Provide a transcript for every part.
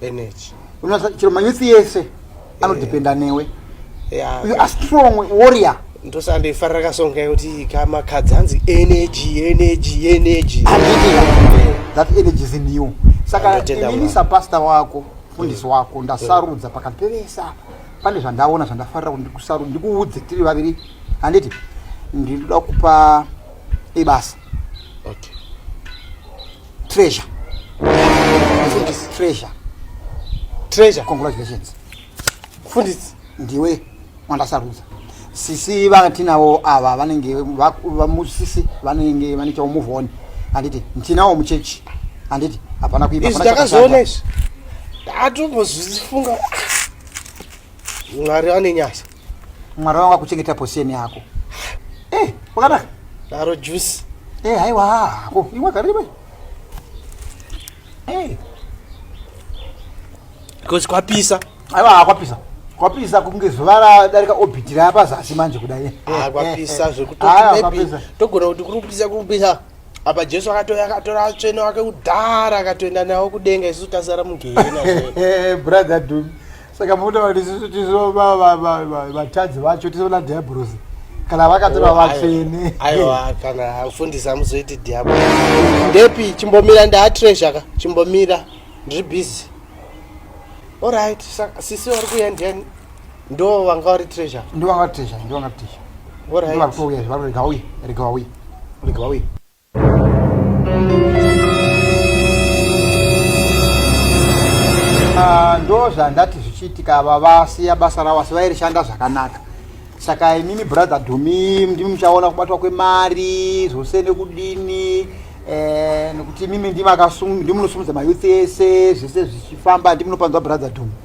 energy unosa chero manyusi yese eh. anodependa newe you are strong warrior ndosandoifarira kasonga yekuti kamakadzi hanzi energy energy energy that energy is in you saka inini sapasta wako mfundisi wako ndasarudza pakati pevese apa pane zvandaona zvandafarira kuti ndikusarudza ndikuudze tiri vaviri handiti ndinoda kupa ibasa okay. Treasure. Mfundisi. Treasure. Treasure. Congratulations. Mfundisi. Ndiwe wandasarudza. Sisi vatinawo ava vanenge vamusisi vanenge vane chawo move on. Handiti ndinawo muchechi. Handiti hapana kuipa. Izvi ndakazoona izvi. Ndatombozifunga. Mwari ane nyasha. Mwari wangu akuchengeta position yako. Eh, wakadaka? Daro juice. Eh, haiwa hako. Imwa karibu. Eh. Because kwapisa. Haiwa kwapisa. Kwapisa kunge zuva radarika orbit raya pazasi manje kudai. Eh, ah, eh, kwapisa eh. zvekuti maybe togona kuti kuri kupisa kuri kupisa. apa jesu akatouya akatora atsvene wake kudhara akatoenda nawo kudenga isu tasara mugehena brother dum saka muda kuti tisu tisu vatadzi vacho tisu vana diabrosi kana vakatora oh, vatsvene aiwa kana afundisi amuzoiti diabro ndepi chimbomira ndaatreasure ka chimbomira ndiri busy orit sisi vari kuya ndiani ndo vanga vari treasure ndo vanga vatreasure ndo vanga vatreasure orit vari kuuya vari rega vauye rega vauye rega vauye Ah, ndo zvandati zvichiitika ava vasiya basa ravo asi vairishanda zvakanaka saka imimi brother dhumi ndimi muchaona kubatwa kwemari zvose nekudini eh, nekuti imimi ndimunosimudza mayouth ese zvese zvichifamba ndimunopanzwa brother dhumi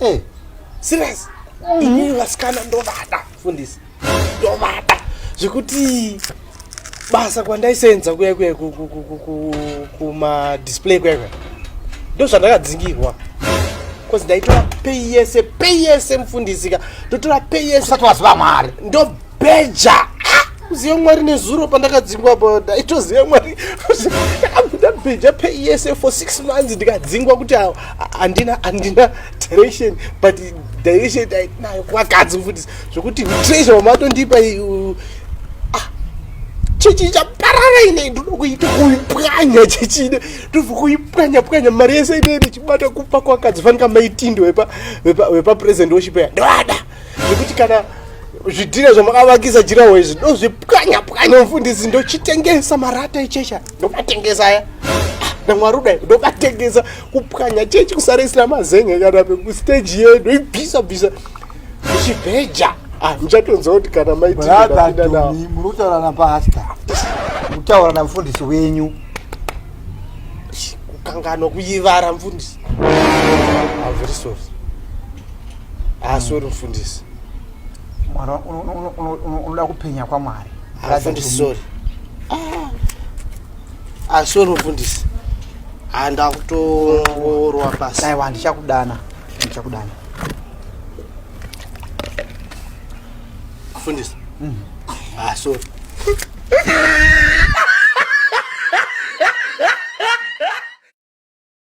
Eh, serious ini vasikana ndovada fundisi ndovada zvekuti basa kwandaisenza kuya kuya kumadisplay kuya kuya ndo zvandakadzingirwa bcause ndaitora pei yese pei yese mufundisika ndotora pei yese usati waziva mwari ndo beja ah, uzive mwari nezuro pandakadzingwa apa ndaitoziva mwari ndakabuda beja peyese for six months ndikadzingwa kuti handina handina direction but direction ndainayo kuvakadzi mfundisi zvekuti treasure wamatondipa chechi ichaparara inei ndoda kuita kuipwanya chechi ine ndobva kuipwanya pwanya mari yese inei ndichibata kupa kwakadzi fanika maitindo wepapresident weshipeya ndoada zvekuti kana zvidhira zvamakavakisa jirawo izvi ndozvipwanya pwanya mufundisi ndochitengesa marata echecha ndomatengesa aya namwari kudai ndomatengesa kupwanya chechi kusarisira mazenge kana pekusteji yedu ibvisa bvisa ichibheja ah, muchatonzwa kuti kana maitiadomi muri kutaura napasta kutaura namufundisi wenyu kukanganwa kuyivara mfundisi I'm very sorry. haasori mufundisi mwana unoda kupenya kwamwari mufundisi sori asori ah, mufundisi handa kutorwa pasi aiwa ndichakudana ndichakudana mufundisi asori mm. ah,